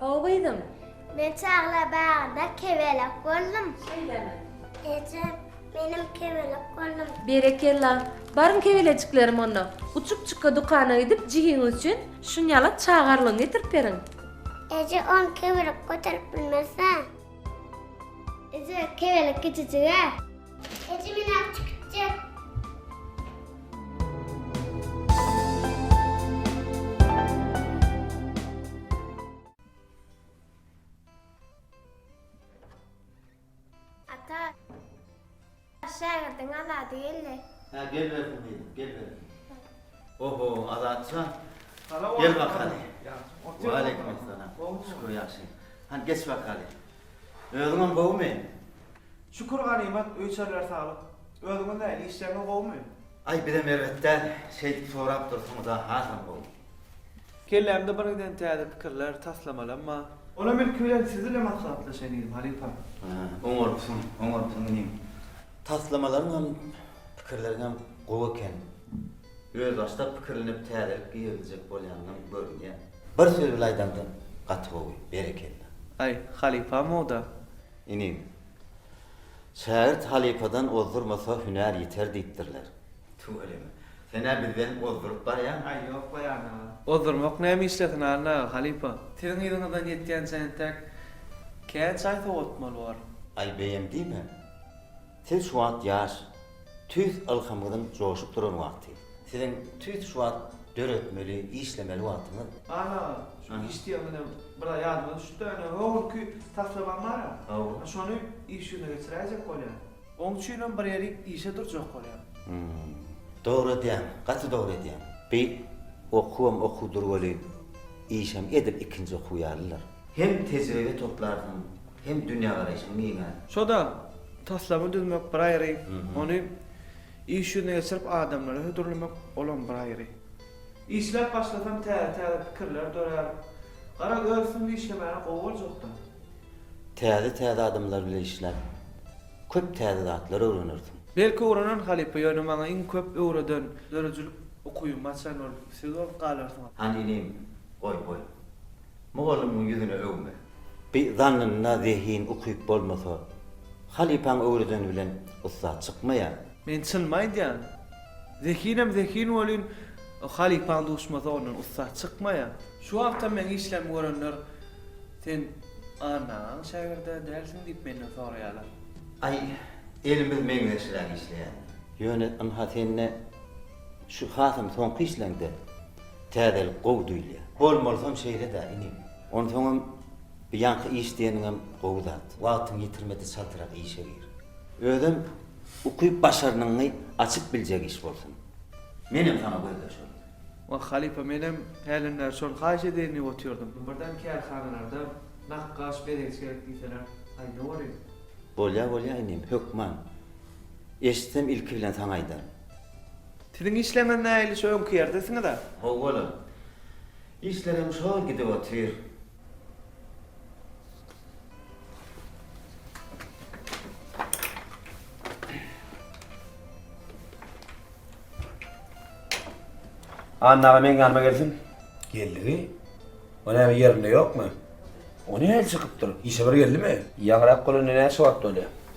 How gyzym. Men çaglar bagynda kebelek boldum. Şeýlemi. Ejem, menem kebelek boldum. Berekella. Baryň kebelejiklerim onda. Uçup çykga dukana gidip jigiňiz üçin şunýalak çagarlygy getirip beriň. Eje on kebelek göterip bilmezä. Eje kebelek kiçijigä. Şägirdiň Azady geldi. Ha gel bersin diýdim, gel bersin. Oho, Azatjan. Gel bakaly. Wa aleykum assalam. Şükür ýagşy. Han geç bakaly. Özüňem gowumy? Şükür ganymat, öýçerler saglyk. Özüňiz nähili, işleriňiz gowumy? Aý, bizem erbet däl. Şeýdip sorap dursuňyz-a, hasam gowy. Kellämde birgiden täze pikirler, taslamalamma. Olam ilki bilen siz ile maslahatlaşaýyn diýdim, halypa. Hä, oňarypsyň, oňarypsyň inim. Taslamalaryňam, pikirleriňem gowy eken. Özbaşdak pikirlenip täzelik giriziljek bolýanlaň görünýär. Bir söz bilen aýdanda gaty gowy. Berekella. Aý, halypam-ow-da. Inim. Şägirt halypadan ozdurmasa hünär ýiter diýipdirler. Tüweleme. Sen-ä bizden ozduryp barýaň. Aý ýok goý Anna aga. Ozdurmak näme işlesin Anna aga, halypa. Siziň yzyňyzdan ýetýänçä entäk kän çaý sowatmaly bor. Aý beýem diýme. Siz şu wagt ýaş, tüýs ylhamyňyzyň joşup duran wagty. Siziň tüýs şu wagt döretmeli, işlemeli wagtyňyz. Aman aga, şu iş diýeniňizem bir aý ýadyma düşüpdi-ä, ine, öňki taslamam bar-a. Hawa. Şony iş ýüzüne geçiräýjek bolýan. Oň üçinem bir ýeri işe durjak bolýan. Hum. Dogry edýäň, gaty dogry edýäň. Beýik okuwam okuwdyr welin, işem edil ikinji okuw ýalydyr. Hem tejribe toplarsyň, hem dünýägaraýşyň giňär. Şo-da, taslama düzmek bir aýry, ony iş ýüzüne geçirip adamlara hödürlemek, olam bir aýry. Işläp başlasaň täze-täze pikirler dörär. Gara öz üstüňde işlemäne gowy boljak-da. Täze-täze adamlar bilen işläp, köp täze zatlar öwrenersiň. Belki öwrenen halypa, ýöne maňa iň köp öwreden, döredijilik ukybymy açan ol siz bolup galarsyňyz. Hany inim, goý, goý. Mugallymyň ýüzüne öwme. Bi zannynda zehin ukyp bolmasa, halypaň öwredeni bilen ussat çykmaýar. Men çynymy aýdýan. Zehinem zehin welin, halypaň duşmasa ondan ussat çykmaýar. Şu wagtam meň işlerimi görenler sen Anna agaň şägirdi-ä dälsiň diýip menden soraýarlar. Aý, elimiz meňzeşräk işleýändir. Ýöne ynha sende. Şu hasam soňky işleňde täzelik gowy duýulýar. Bolmalysam şeýle-dä, inim. Onsoňam bu ýaňky iş diýeniňem gowy zat. Wagtyňy ýitirme-de çaltrak işe gir. Özem ukyp-başarnygyňy açyp biljek iş bolsun. Menem saňa gözleş onda. Wah, halypa, menem hälim bäri şony haýyş edeýin diýip otyrdym. Birden kärhanalarda nakgaş, bezegçi gerek diýseler, aý, ne bolyň? Bolýa, bolýa, inim, hökman. Eşitsem ilki bilen saňa aýdaryn. Siziň işlerňiz nähili şu öňki ýerdesiniz-a? Howwa-la. Işlerem şol gidip otyr. Anna aga meň ýanyma gelsin. Geldi-wi. O näme ýerinde ýokmy? O nähili çykypdyr? Işe bir geldimi? Ýaňyrak bolanda näçe wagt bolýar?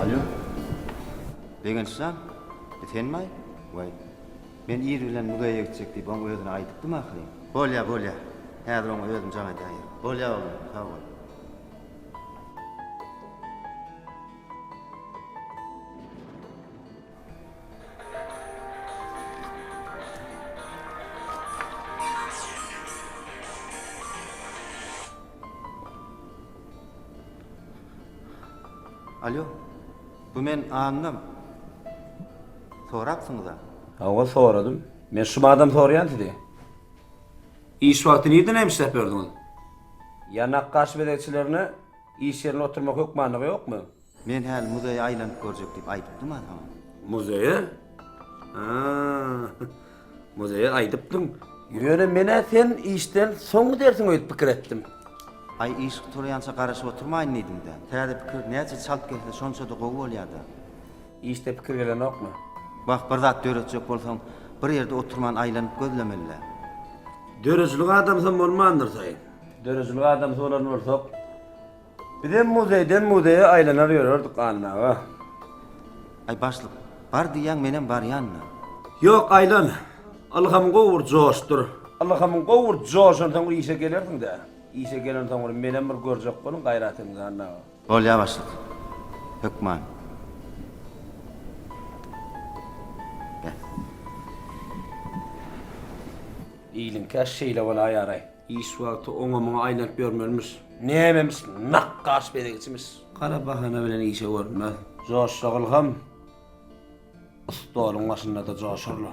Alýo. Begenç jan, bu senmi-aý? Waý, men ir bilen mügeýe gitjek diýip oň özüne aýdypdym ahyryn. Bolýa, bolýa. Häzir oňa özüm jaň edäýerin. Bolýa oglum, sag bol. Alýo. Bu men Annam. Sorapsyňyz-a? Hawa, soradym. Men şumadan soraýan sizi. Iş wagty nirde näme işläp ýördüňiz? Ýanak gaş bezegçilerine iş ýerinde oturmak hökmanlygy ýokmy? Men häli muzeýe aýlanyp görjek diýip aýdypdym-a saňa. Muzeýe? A, muzeýe aýdypdyň. Ýöne men-ä sen işden soň gidersiň öýdüp pikir etdim. Aý, iş gutalaýança garaşyp oturmaýyn diýdim-dä. Täze pikir näçe çalt gelse, şonça-da gowy bolýar-da. Işde pikir gelenokmy? Wah, bir zat döretjek bolsaň, bir ýerde oturman aýlanyp gözlemeli-dä. Döredijilik adamsam bolmandyrsaýyn. Döredijilik adamsy bolan bolsak, bizem muzeýden muzeýe aýlanar ýörerdik, Anna aga. Aý, başlyk, bar diýýäň, menem barýan-da. Ýok, aýlan. Ylhamyň gowy bir joşdur. Ylhamyň gowy bir joşansoň işe gelersiň-dä. Işe gelensoň bir menem bir görjek boluň gaýratyňyzy, Anna aga. Bolýa başlyk. Hökman. Be. Iliň käş şeýle bolaýaraý. Iş wagty oňa-muňa aýlanyp ýörmelimiş. Nämemiş, nakgaş bezegçimiş. Gara bahana bilen işe görünmez. Joşjagylham, stoluň başynda-da joşar-la.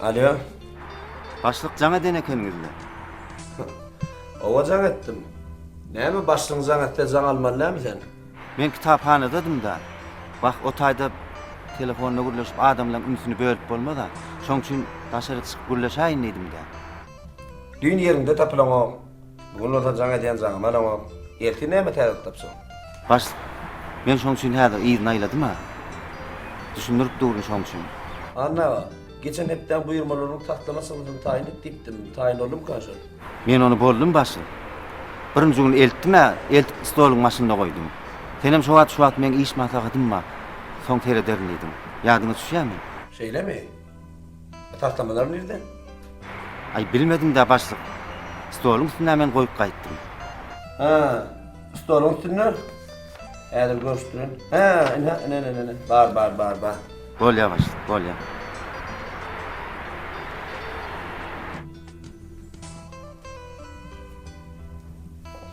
Alýo. Başlyk jaň eden ekeniňizle. Owa jaň etdim. Näme başlyň jaň etse jaň almaly näme sen? Men kitaphanadadym-da. Wah, o taýda telefonda gürleşip adamlaň ünsüni bölüp bolmaz-a. Şoň üçin daşaryk çykyp gürleşäýin diýdim-dä. Düýn ýeriňde tapylaňok. Bu gün bolsa jaň edýän jaňymy alaňok. Ertir näme täzelik tapjaň? Bars, men şoň üçin häzir yzyny aýladym-a. Düşündirip durun şoň üçin. Anna aga, geçen hepdäň buýurmalarynyň taslama çyzgysyny taýyn et diýipdim. Taýyn boldumykan şol? Men ony boldum, Bars. Birinji gün eltdim-ä, eltip stoluň başynda goýdum. Senem şo wagt, şu wagt meň iş maslahatym bar, soň serederin diýdiň. Ýadyňa düşýärmi? Şeýlemi? Taslamalar nirde? Aý bilmediňdä başlyk. Stoluň üstünde men goýup gaýtdym. Hä, stoluň üstünde? Häzir görüşdirin. Hä, ine, ine, ine, ine, bar, bar, bar, bar. Bolýar başlyk, bolýar.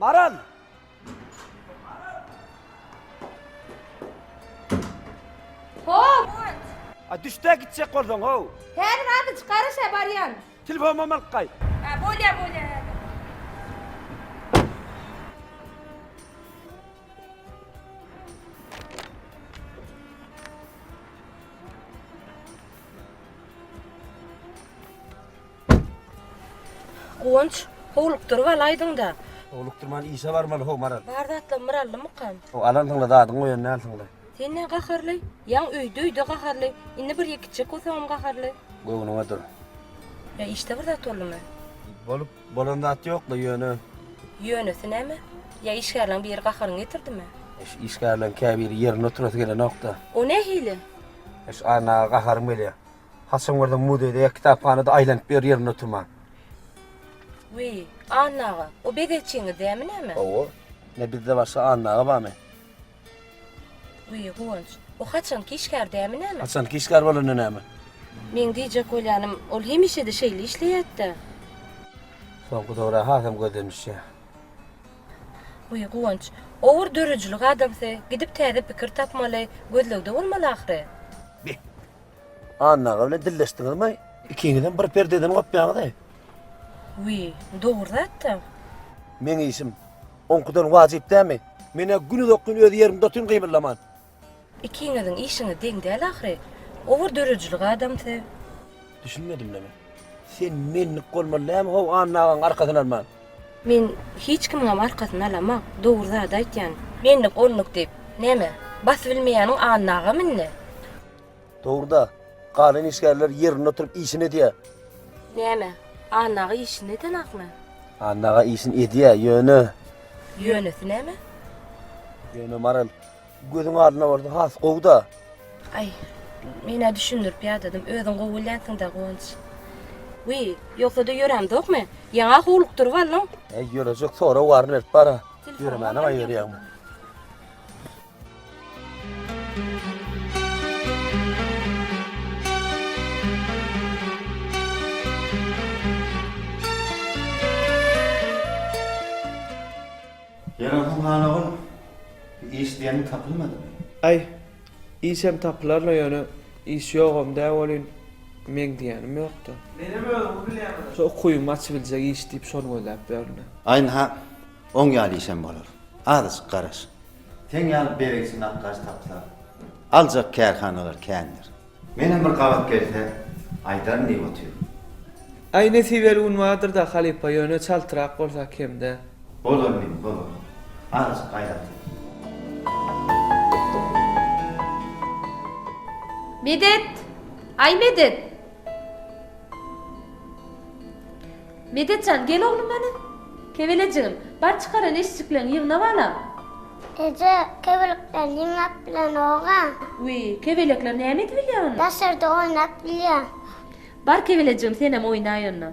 Baran! Hop! A düşde gitjek bolsaň o. Her razy çykaryşa baryan. Telefon mamal kay. Ha bolya bolya. Guwanç, howlukdyryp alaýdyň-da. Howlukdyrman işe barmaly, how, Maral. Bar zatlarymy bir aldymykam? How, alansyň-la, zadyňy goýan dälsiň-le. Sen näme gaharly? Ýaň öýde-öýde gaharly. Indi bir ýek içjek bolsaňam gaharly. Göwnüňe dur. Ýa işde bir zat boldumy? Bolup, bolan zat ýok-la, ýöne. Ýönesi näme? Ýa işgärleriň biri gaharyňy getirdimi? Eş, işgärleriň käbiri ýerinde oturasy gelenok-da. O nähili? Eş, Annaga gaharym gelýär. Haçan görseň muzeýde ýa kitaphanada aýlanyp ýör ýerinde oturman. Wiý, Anna aga, o bezegçiňiz dämi näme? Hawa. Ine bizde başga Anna aga barmy? Wiý, Guwanç, o haçanky işgär dämi näme? Haçanky işgär bolanda näme? Meň diýjek bolýanym, ol hemişe-de şeýle işleýärdi-dä. Soňky döwür-ä hasam gözden düşýär. Wiý, Guwanç, o bir döredijilik adamsy, gidip täze pikir tapmaly, gözlegde bolmaly ahyry. Beh, Anna aga bilen dilleşdiňizmi? Ikiňizem bir perdeden gopýaňyz-eý. Wiý, dogry zat-da. Meň işim oňkudan wajyp dälmi? Men-ä günuzakyn öz ýerimde otyryn gymyllaman. Ikiňiziň işiňiz deň däl ahyry. Olar döredijilik adamsy. Düşünmedim-le men. Sen menlik bolmaly dälmi-how Anna agaň arkasyny alman? Men hiç kimiňem arkasyny alamok. Dogry zady aýtýan. Menlik-onluk diýip, näme, basybilmeýäniň Anna agam indi? Dogruda, galan işgärler ýerinde oturyp işini edýär. Näme, Anna aga işini edenakmy? Anna aga işini edýär, ýöne. Ýönesi näme? Ýöne Maral, gözüň alnyna bolsa has gowy-da. Aý, men-ä düşündirip ýadadym, özüň gowy bilýänsiň-dä, Guwanç. Wiý, ýogsa-da ýörämzokmy? Ýaňa howlukdyryp aldyň. Äý, ýörejek, sorag bar, berip bar-a. Ýöremänem-ä ýörýägmi? Ýaragyň bar ogul, iş diýeniň tapylmadymy? Aý, işem tapylar-la ýöne, iş ýogam-dä welin, meň diýýänim ýok-da. Menem özümi bilýäm-ä. Şo ukubymy açybiljek iş diýip şony gözläp ýörün-ä. Aý, nahak, oň ýaly işem bolar. Azajyk garaş, Seň ýaly berekçi nakgaş tapsa, aljak kärhanalar kändir. Menem bir gabat gelse aýdaryn diýip otyryn. Aý nesibeli gün bardyrda halypa ýöne çaltrak bolsa kemde. Bolar meni bolar. Azajyk gaýrat et. Medet! Aý Medet! Medet jan, gel oglum hany. Kebelejigim, bar çykaran eşjikleňi ýygna balam. Eje, kebelikleri ýygnap bilenogam. Wiý, kebelekler näme edibilýär onda? Daşarda oýnap bilýär. Bar kebelejigim senem oýnaý onda.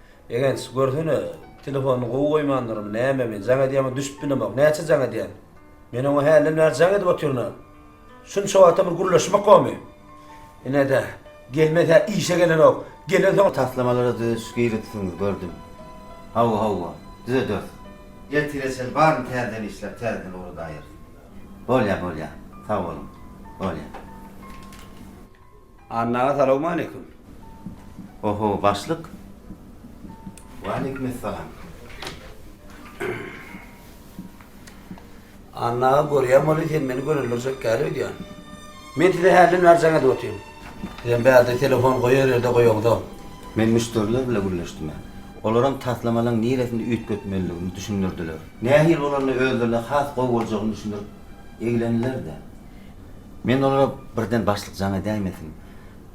Begenç, görsene, telefonyny gowy goýmandyrymy, nämemi, jaň edýämi düşüp bilemok. Näçe jaň edýän? Men oňa hälden bäri jaň edip otyryn-a. Şunça wagtam bir gürleşmek gowymy? Ine-de, gelmese-hä işe gelenok. Gelensoň-a. Taslamalara düzediş girizipsiňiz, gördüm. Hawa, hawa, düzederis. Ertire çenli baryny täzeden işläp, täzeden ugradaýarys. Bolýar, bolýar. Sag boluň. Bolýar. Anna aga salowmaleýkum. Oho başlyk. Waleýkumessalam. Anna aga görýän bolýa sen meni görendirjek gal öýdýän. Men size hälden bäri jaň edip otyryn. Sizem bärde telefon goýar ýerde goýaňzok. Men müşderiler bile gürleşdim. Olaram taslamalaň niresinde üýtgetmelidigini düşündirdiler. Nähili bolanda özlerine has gowy boljagyny düşündirip Egleniler-de. Men olara birden başlyk jaň edäýmesin,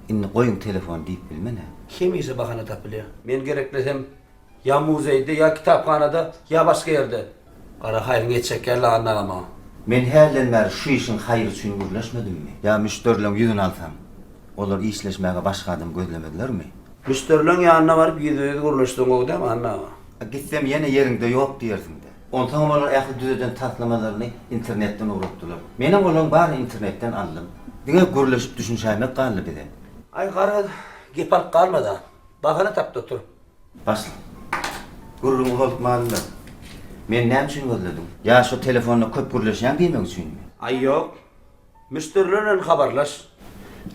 indi goýuň telefony diýip bilmen-ä. Hemişe bahana tapylýar. Men gerekmesem, ýa muzeýde, ýa kitaphanada, ýa başga ýerde. Gara haýryň et çekýär Lagandy aga maňa. Men hälden bäri şu işiň haýry üçin gürleşmedimmi? Ýa müşderileriň ýüzüni alsaň, olar işleşmäge başga adam gözlemezlermi? Müşderileriň ýanyna baryp ýüzbe-ýüz gürleşseň gowy dämi, Anna aga? Gitsem ýene ýeriňde ýok diýersiň-dä. Onsoňam olar ähli düzeden taslamalaryny internetden ugratdylar. Menem olaryň baryny internetden aldym. Diňe gürleşip düşünişäýmek galdy bize. Aý, garaz, gep alyp galma-da. Bahana tapdy otur. Başlyk. Gürrüňi bozup malymda. Meni näme üçin gözlediň? Ýa şo telefonda köp gürleşýäň diýmek üçinmi? Aý, ýok. Müşderiler bilen habarlaş.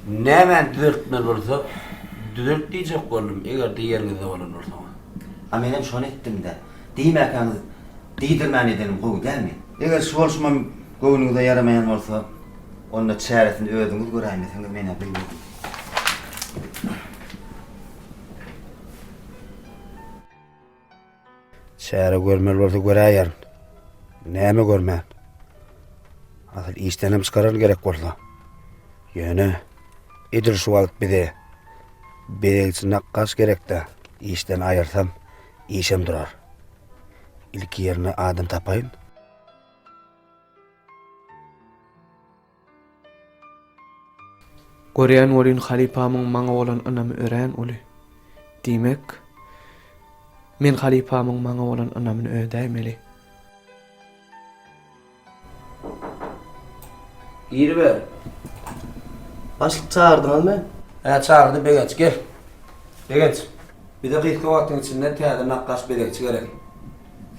Nämäni düzeltmeli bolsa, düzelt diýjek boldum, eger-de ýeriňizde bolan bolsaňyz. A menem şony etdim-dä. Diýmäkäňiz, diýdirmän edenim gowy dälmi? Eger şu bolşumam göwnüňize ýaramaýan bolsa, onda çäresini özüňiz göräýmeseňiz men-ä bilmedim. Çäre görmeli bolsa göräýerin. Näme görmän? Asyl işdenem çykararyn gerek bolsa. Ýöne edil şu wagt bize bezegçi nakgaş gerek-dä, işden aýyrsam, işem durar. Ilki ýerine adam tapaýyn. Görýän welin halypamyň maňa bolan ynamy örän uly. Diýmek, men halypamyň maňa bolan ynamyny ödäýmeli. Giriber. Başlyk çagyrdyňyzmy? Hä, çagyrdy Begenç. Gel. Begenç, bize gysga wagtyň içinde täze nakgaş bezegçi gerek.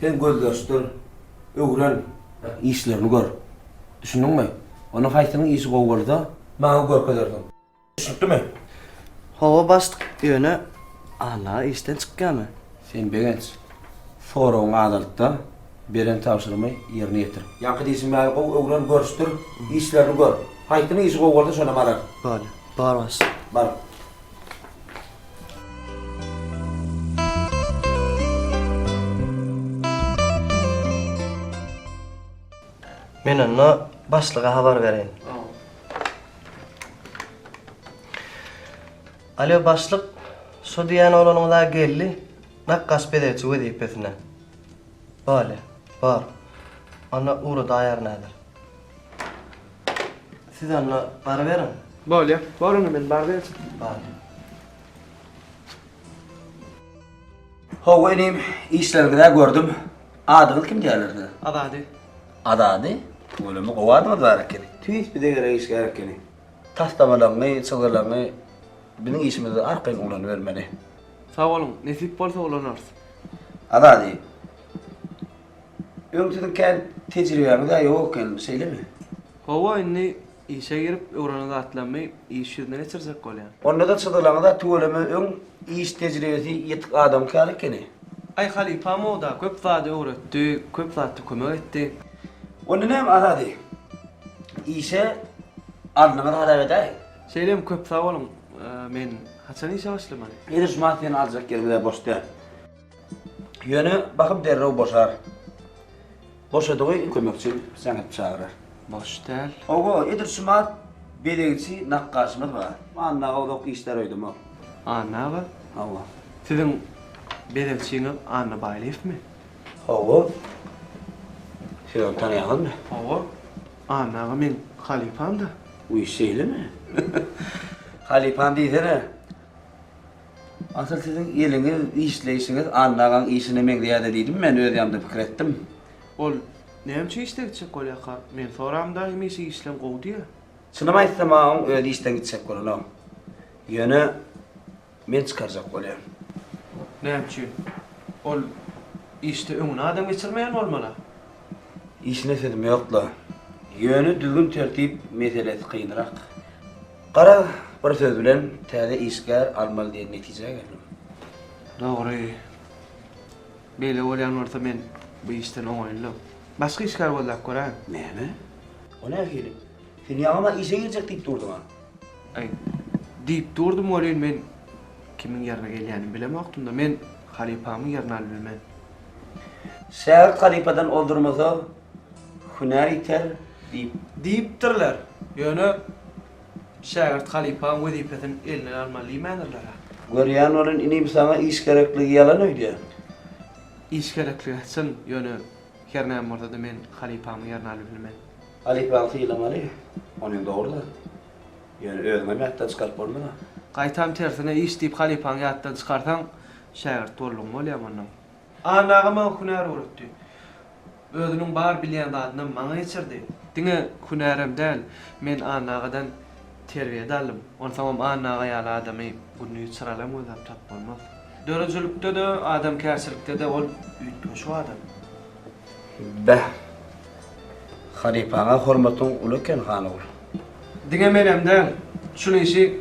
Sen gözleşdir, öwren. Işlerini gör. Düşündiňmi? Ony haýsynyň işi gowy bolsa, maňa görkezersiň. Düşnükdimi? Hawa, başlyk. Ýöne Alla işden çykýamy? Sen Begenç, soragyňy azalt-da, beren tabşyrymy ýerine ýetir. Ýaňky diýşimäni gowy öwren, görüşdir, işlerini gör. Haýsynyň işi gowy bolsa, şonam alar. Bolýar. Bar, başlyk. Bar. Men onda başlyga habar bereýin. Alo, başlyk, şo diýýän oglanyňyz-a geldi, nakgaş bezegçi wezipesine. Bolýa, bor. Onda ugra daýar näder. Siz onda baryberiň. Bolýa, bor onda men baryp gelçin. Bolýa. How inim işleriňizä gördüm. Adyňyz kim diýerler size? Azady. Azady? Bolamy gowy adyňyz bar ekeni. Tüýs bize gerek iş gerek ekeni. Taslamalaryňy, çyzgylaryňy biziň işimizde arkaýyn ulanybermeli. Sag boluň, nesip bolsa ulanarys. Azady. Öň siziň kän tejribäňiz-ä ýok ekeni, şeýlemi? Hawa indi Işe girip öwrenen zatlarymy iş ýüzüne geçirjek bolýan. Onda-da çyzgylaňyza tüweleme öň iş tejribesi ýetik adamyňky ýaly ekeni. Aý halypam-ow-da köp zady öwretdi, köp zatda kömek etdi. Onda näme Azady? Işe alnyňyz hasap edäýiň. Şeýlemi, köp sag boluň. Men haçan işe başlamaly? Ýeri şu maşyny aljak ýerimiz-ä boş däl. Ýöne bakyp derrew boşar. Boşadygy kömekçi säňet çagyrar. Boş däl. Oba, edir şumat bezegçi nakgaşymyz bar. Anna aga uzak işdar öýdemok. Anna aga? Hawa. Siziň bezegçiňiz Anna Baýlyýewmi? Hawa. Siz ony tanýaňyzmy? Hawa. Anna aga meň halypam-da. Wiý, şeýlemi? Halypam diýsene. Asyl siziň eliňiz, işleýşiňiz Anna agaň işine meňzeýär-de diýdim men, öz ýanymda pikir etdim. Ol, Näme üçin işden gitjek bolýarka? Men soramda, hemişe işleň gowy diýýär. Çynymy aýtsam, agaň özi işden gitjek bolanok. Ýöne, men çykarjak bolýan. Näme üçin? Ol işde öňüne adam geçirmeýän bolmaly-a? Işine sözüm ýok-la. Ýöne düzgün-tertip meselesi kynrak. Gara, bir söz bilen, täze işgär almaly diýen netijä geldim. Dogry. Beýle bolýan bolsa men bu işden oňaýyldym. Başga işgär gözläp göräýiň. Näme? O nähili? Sen ýaňy-la işe girjek diýip durduň-a? Aý, diýip durdum welin, men kimiň ýerine gelýänimi bilemokdym-da, men halypamyň ýerini alybilmen. Şägirt halypadan ozdurmasa, Hünär ýiter diýip. Diýipdirler. Ýöne şägirt halypaň wezipesin elinden almaly diýmändirler-ä. Görýän welin, inim saňa iş gerekligi ýalan öýdýän. Iş gerekligi çyn, ýöne her näme bolsa-da men halypamyň ýerini alyp bilmen. Halypaňy sylamaly, onem dogry-da. Ýöne özüňem ýatdan çykaryp bolmaz-a. Gaýtam tersine iş diýip halypaňy ýatdan çykarsaň, şägirt boldugyň bolýamy onnoň? Anna aga maňa hünär öwretdi. Özüniň bar bilýän zadynam maňa geçirdi. Diňe hünärem däl, men Anna agadan terbiýe-de aldym. Onsoňam Anna aga ýaly adamy gündiz çyralaň gözläp tapyp bolmaz. Döredijilikde-de, adamkärçilikde-de ol üýtgeşik adam. Beh. Halypaňa hormatyň uly eken Hanogul. Diňe menem däl, şul işi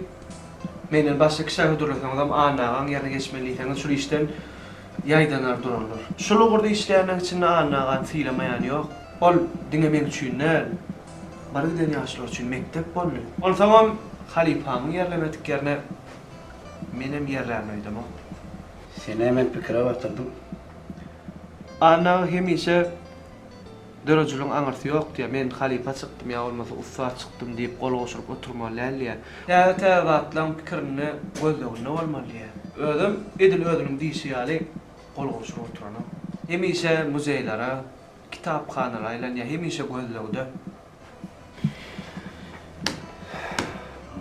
menden başga kişä hödürleseňizem Anna agaň ýerine geçmeli diýseňiz şul işden ýaýdanar durarlar. Şul ugurda işleýänleň içinde Anna agany sylamaýan ýok. Ol diňe meň üçin däl, bir giden ýaşlar üçin mekdep boldy. Onsoňam halypamyň ýerlemedik ýerine menem ýerlärin öýdemok. Seni hemen pikire batyrdyň. Anna aga hemişe Döredijiligin aňyrsy ýok diýýär. Men halypa çykdym ýa bolmasa ussat çykdym diýip gol gowşuryp oturmaly däl diýýär. Täze-täze zatlaryň pikirinde, gözleginde bolmaly diýýär. Özem edil özüniň diýşi ýaly gol gowşuryp oturanok. Hemişe muzeýlere, kitaphanalara aýlanýar, hemişe gözlegde.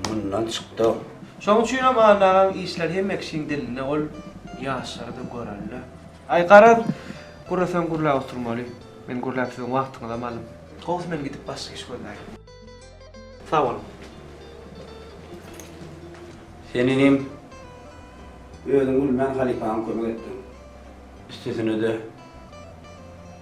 Mundan çykdyk. Şoň üçinem Anna agaň işleri hemme kişiň dilinde ol ýaşlary-da görelde. Aý garaz, gürleseň gürläp oturmaly. Men gürläp siziň wagtyňyzam alyn. Howws men gidip başga iş gözläýin. Sag boluň. Sen inim özüň gülmän halypaňa kömek etdiň. Üstesine-de.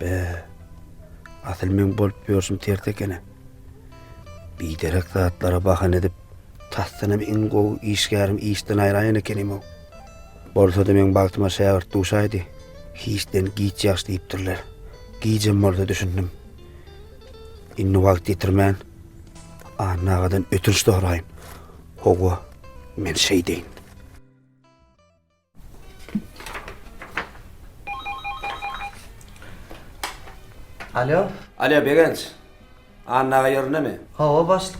Be, asyl meň bolup ýörşüm ters eken-ä. Biderek zatlara bahana edip, tasdanam iň gowy işgärim işden aýraýan ekenim-ow. Bolsa-da meň bagtyma şägirt duşaýdy. Hiçden giç ýagş diýipdirler. Gijem bolsa düşündim. Indi wagt ýitirmän, Anna agadan ötünç soraýyn. Hawa, men şeýdeýin. Alo. Alo Begenç. Anna aga ýerindemi? Hawa başlyk.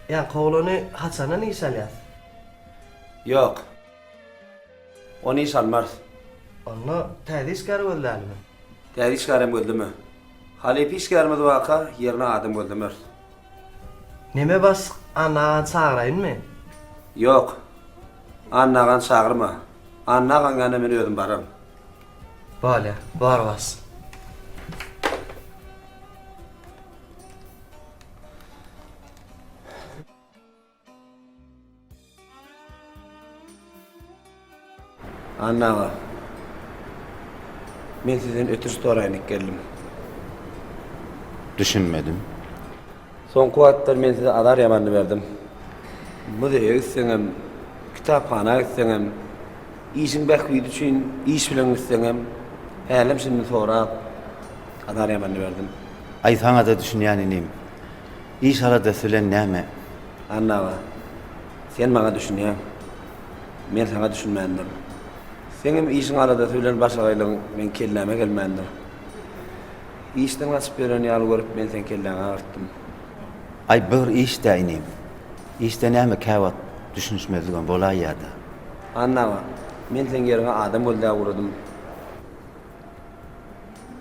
Ýa kowlany haçandan iş alýas? Ýok. Ony iş almarys. Onda täze işgär gözlälimi? Täze işgärem gözleme. Halypa işgärimiz barka ýerine adam gözlemeris. Neme bas Anna agany çagyraýynmy? Ýok. Anna agany çagyrma. Anna agaň ýanyna men özüm bararyn. Bolýa. Bar bas. Anna aga. Men sizden ötünç soraýyn dik geldim. Düşünmedim. Soňky wagtlar men size azar ýamanny berdim. Muzeýe gitseňem, kitaphana gitseňem, işiň bähbidi üçin iş bilen gitseňem, hälem şindi sorap, azar ýamanny berdim. Aýsaňada düşünýän inim. Iş aladasy bilen näme? Anna aga, sen maňa düşünýäň. Men saňa düşünmändirin. Seňem işiň aladasy bilen başagaýlygyň meň kelläme gelmändir. Işden gaçyp ýören ýaly görüp men seň kelläňi agyrtdym. Aý bir iş-dä inim. Işde näme käwagt düşünişmezligem bolaý ýa-da. Anna aga, men seň ýeriňe adam gözläp ugradym.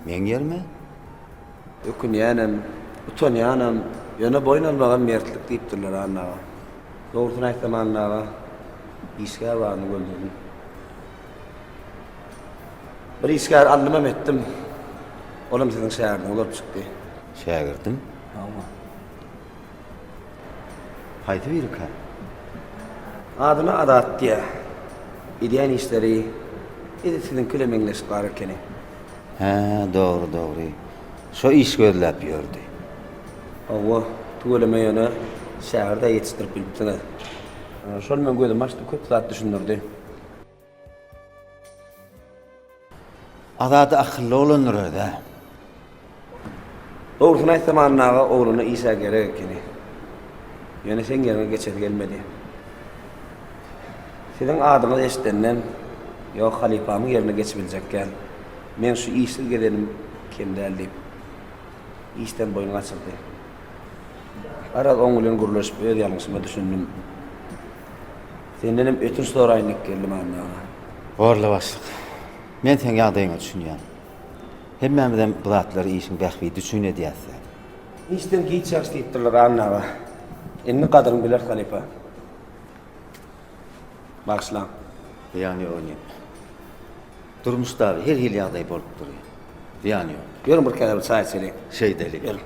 Meň ýerime? Ökünýänem, utanýanam, ýöne boýun almagam mertlik diýipdirler Anna aga. Dogrusyny aýtsam Anna aga işgär baryny göldürdim. Bir işgär aldymam etdim. Olam siziň şägirdiňiz bolup çykdy. Şägirdim? Hawa. Haýsy birikä? Adyna Azat diýýär. Edýän işleri edil siziňki ile meňzeş bar ekeni. Hä, dogry, dogry. Şo iş gözläp ýördi. Hawa, tüweleme ýöne şägirt-ä ýetişdirip bilipsiňiz. Şol meň gözümi açdy, köp zat düşündirdi. Azady akylly oglandyr özä. Dogrusyny aýtsam Anna aga oglana Isa gerek ekeni. Ýöne seň ýeriňe geçesi gelmedi. Siziň adyňyzy eşidenden ýok halypamyň ýerine geçibiljekkän meň şu işsiz gezenim kem däl diýip işden boýun gaçyrdy. Garaz oň bilen gürleşip öz ýalňyşyma düşündim. Sendenem ötünç soraýyn diýip geldim Anna aga. Horly başlyk. Men seň ýagdaýyňa düşünýän. Hemmämizem bu zatlary işiň bähbidi üçin edýäs däl. Işden giç çykyş diýipdirler Anna aga. Indi gadyryny biler halypa. Bagyşlaň. Zyýany ýok ine. Durmuşda her hili ýagdaý bolup durýar. Zyýany ýok. Ýörüň bir kenara bir çaý içeliň. Şeýdeliň. Ýörüň.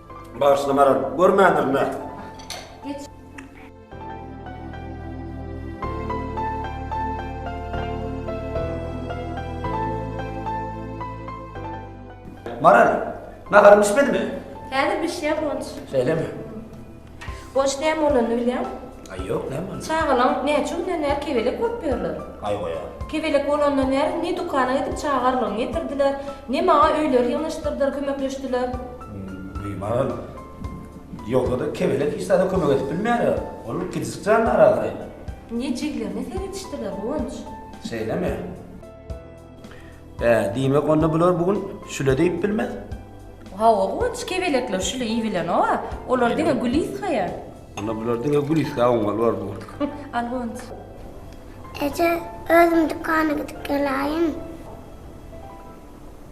Bağışla Maral, görmändirin ha. Maral, naharym pişmedimi? Häzir bişýär Gonç. Şeýlemi? Goç näme bolanyny bilýäňmi? Aý ýok näme boldy? Çagalaň näçe günden bäri kebelek bolup ýörler. Aý goýa. Kebelek bolandan bäri ne dükana gidip çaga arlygyny getirdiler, ne maňa öýleri ýygnaşdyrdylar, kömekleşdiler. Öý maral. Ýogsa-da kebelek hiç zada kömek edip bilmeýär a. Ol kiçijik jandar ahyry. Indi jiglerine seredişdiler, Guwanç. Şeýlemi? Hä, diýmek onda bular bu gün şüle diýip bilmez? Hawa, Guwanç, kebelekler şüle iýibilenok-a. Olar diňe Gülisgaýa. Onda bular diňe Gülisgä oňmaly bor bu gün. Al, Guwanç. Eje, özüm dükana gidip geläýin.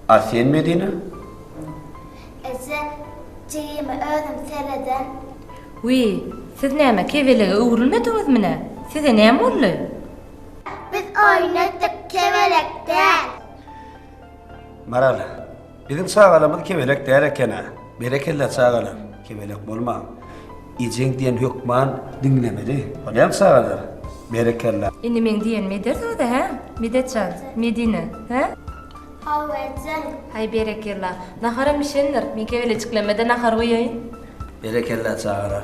A sen, Medine? Eje, jigimi özüm sereden. Wiý, siz näme, kebelege öwrülmediňizmi-nä? Size näme boldy? Biz oýnadyk kebelek däl. Maral, biziň çagalarymyz kebelek däl eken-ä. Berekella çagalar, kebelek bolmaň. Ejeň diýen hökman diňlemeli. Bolýamy çagalar? Berekella. Indi meň diýenimi edersiňiz-dä, hä, Medet jan, Medine, hä? Hawa, ejeň. Haý, berekella. Naharam bişendir. Men kebelejiklerime-de nahar guýaýyn. Berekella çagalar.